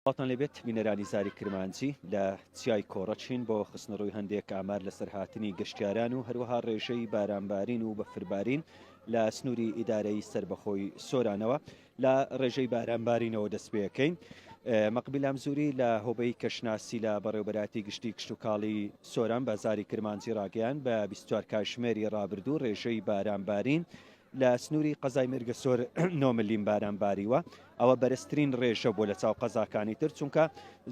سڵاوتان لێ بێت بینەرانی زاری کرمانجی، لە چیای کۆڕە چین بۆ خستنەڕووی هەندێک ئامار لەسەر هاتنی گەشتیاران و هەروەها ڕێژەی بارانبارین و بەفربارین لە سنووری ئیدارەیی سەربەخۆی سۆرانەوە لە ڕێژەی بارانبارینەوە دەستپێکەین. مەقبیل ئامزوری لە هۆبەی کەشناسی لە بەڕێوەبەرایەتی گشتی کشتوکاڵی سۆران بە زاری کرمانجی ڕاگەیاند بە بیست و چوار کاتژمێری ڕابردوو ڕێژەی بارانبارین لە سنووری قەزای مێرگەسۆر نۆ ملیم باران باریوە ئەوە بەرزترین ڕێژە بۆ لە چاو قەزاکانی تر چونکە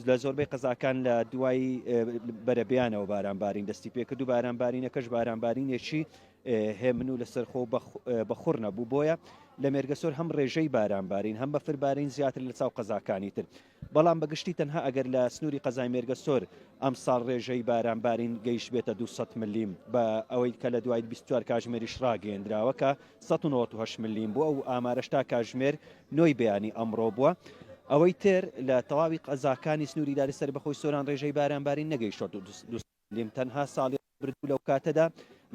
لە زۆربەی قەزاکان لە دوای بەرەبیانەوە باران بارین دەستی پێکرد و باران بارینەکەش باران بارینێکی هێمن و لەسەرخۆ بەخور نەبوو بۆیە لە مێرگەسۆر هەم ڕێژەی باران بارین هەم بەفربارین زیاتر لە چاو قەزاکانی تر بەڵام بە گشتی تەنها ئەگەر لە سنووری قەزای مێرگەسۆر ئەمساڵ رێژەی باران بارین گەیشتبێتە دوو سەد ملیم، بە ئەوەی کە لە دوای بیست و چوار کاژمێریش راگەیێندراوە کە سەد و نەوەد و هەشت ملیم بووە و ئامارەش تا کاژمێر نۆی بەیانی ئەمڕۆ بووە. ئەوەی تر لە تەواوی قەزاکانی سنووری داری سەربەخۆی سۆران رێژەی باران بارین نەگەیشتووە دوو سەد. ملم تەنها ساڵی ڕابردوو لەو کاتەدا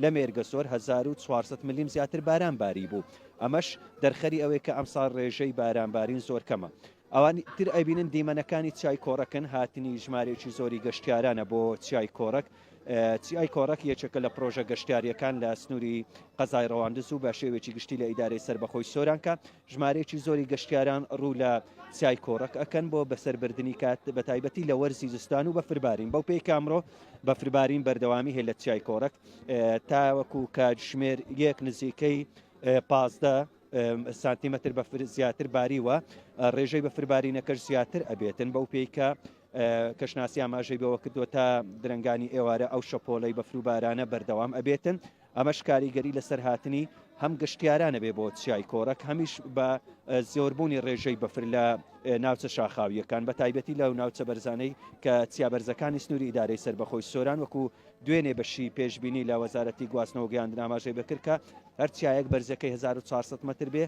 لە مێرگەسۆر هەزار و چوار سەد ملم زیاتر باران باریبوو ئەمەش دەرخەری ئەوەی کە ئەمساڵ ڕێژەی بارانبارین زۆر کەمە ئەوانی تر ئەیبینن دیمەنەکانی چیای کۆڕەکن هاتنی ژمارەیەکی زۆری گەشتیارانە بۆ چیای کۆڕەک چیای کۆڕەک یەکێکە لە پڕۆژە گەشتیاریەکان لە سنووری قەزای ڕەواندز و بە شێوێکی گشتی لە ئیدارەی سەربەخۆی سۆرانکە ژمارەیەکی زۆری گەشتیاران ڕوو لە چیای کۆڕەک ئەکەن بۆ بەسەربردنی کات بە تایبەتی لە وەرزی زستان و بەفربارین بەو پێی کامرۆ بەفربارین بەردەوامی هەیە لە چیای کۆڕەک تاوەکو کاتژمێر یەک نزیکەی پازدە سانتیمەتر بە زیاتر باریوە ڕێژەی بە فربارینەکەش زیاتر ئەبێتن بەو پێیکە کەشناسی ئاماژەی بەوە کردووە تا درنگانی ئێوارە ئەو شەپۆلەی بەفروبارانە بەردەوام ئەبێتن ئەمەش کاریگەری لەسەر هاتنی هەم گەشتیاران ئەبێ بۆ چیای کۆرەک، هەمیش بە زۆربوونی ڕێژەی بەفر لە ناوچە شاخاوییەکان، بەتایبەتی لەو ناوچە بەرزانەی کە چیا بەرزەکانی سنووری ئیدارەی سەربەخۆی سۆران وەکوو دوێنێ بەشی پێشبینی لە وەزارەتی گواستنەوە گەیاندن ئاماژەی بەکرد کە هەر چیایەک بەرزیەکەی هەزار و چوار سەد مەتر بێ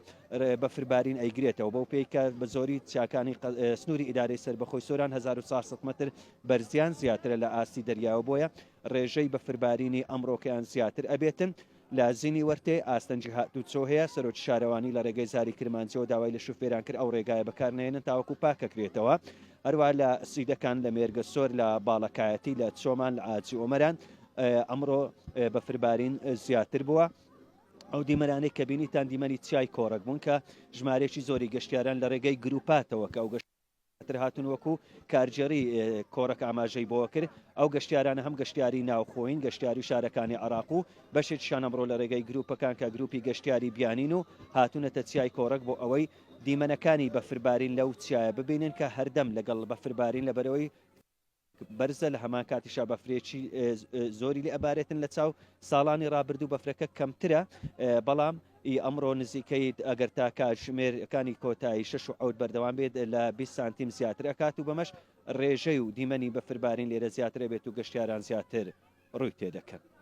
بەفربارین ئەیگرێتەوە بەو پێی کە بە زۆری چیاکانی سنووری ئیدارەی سەربەخۆی سۆران هەزار و چوار سەد مەتر بەرزیان زیاترە لە ئاستی دەریاوە بۆیە ڕێژەی بەفربارینی ئەمڕۆکەیان زیاتر ئەبێتن لە زینی وەرتێ، ئاستەنگی هاتووچۆ هەیە، سەرۆکی شارەوانی لە ڕێگەی زاری کرمانجیەوە داوای لە شوفێران کرد ئەو ڕێگایە بەکار نەهێنن تاوەکو پاکەکرێتەوە، هەروەها لە سیدەکان، لە مێرگەسۆر، لە باڵەکایەتی، لە چۆمان، لە ئاجی ئۆمەران ئەمڕۆ بەفربارین زیاتر بووە. ئەو دیمەنانەی کە بینیتان دیمەنی چیای کۆڕەک بوون کە ژمارەیەکی زۆری گەشتیاران لە ڕێگەی گرووپاتەوە کە ئەو گەشت تر هاتوون وەکو کارگێڕی کۆڕەک ئاماژەی بەوە کرد، ئەو گەشتیارانە هەم گەشتیاری ناوخۆین، گەشتیاری شارەکانی عێراق و بەشێکیشان ئەمڕۆ لە رێگەی گروپەکان کە گروپی گەشتیاری بیانین و هاتوونەتە چیای کۆڕەک بۆ ئەوەی دیمەنەکانی بەفربارین لەو چیایە ببینن کە هەردەم لەگەڵ بەفربارین لەبەرەوەی بەرزە لە هەمان کاتیشا بەفرێکی زۆری لێ ئەبارێتن لە چاو ساڵانی ڕابردوو بەفرەکە کەمترە بەڵام ئی ئەمڕۆ نزیکەیت ئەگەر تا کاتژمێرەکانی کۆتایی شش و عود بەردەوام بێت لە 20 سانتیم زیاتر ئەکات و بەمەش ڕێژەی و دیمەنی بەفربارین لێرە زیاترە بێت و گەشتیاران زیاتر ڕووی تێدەکەن.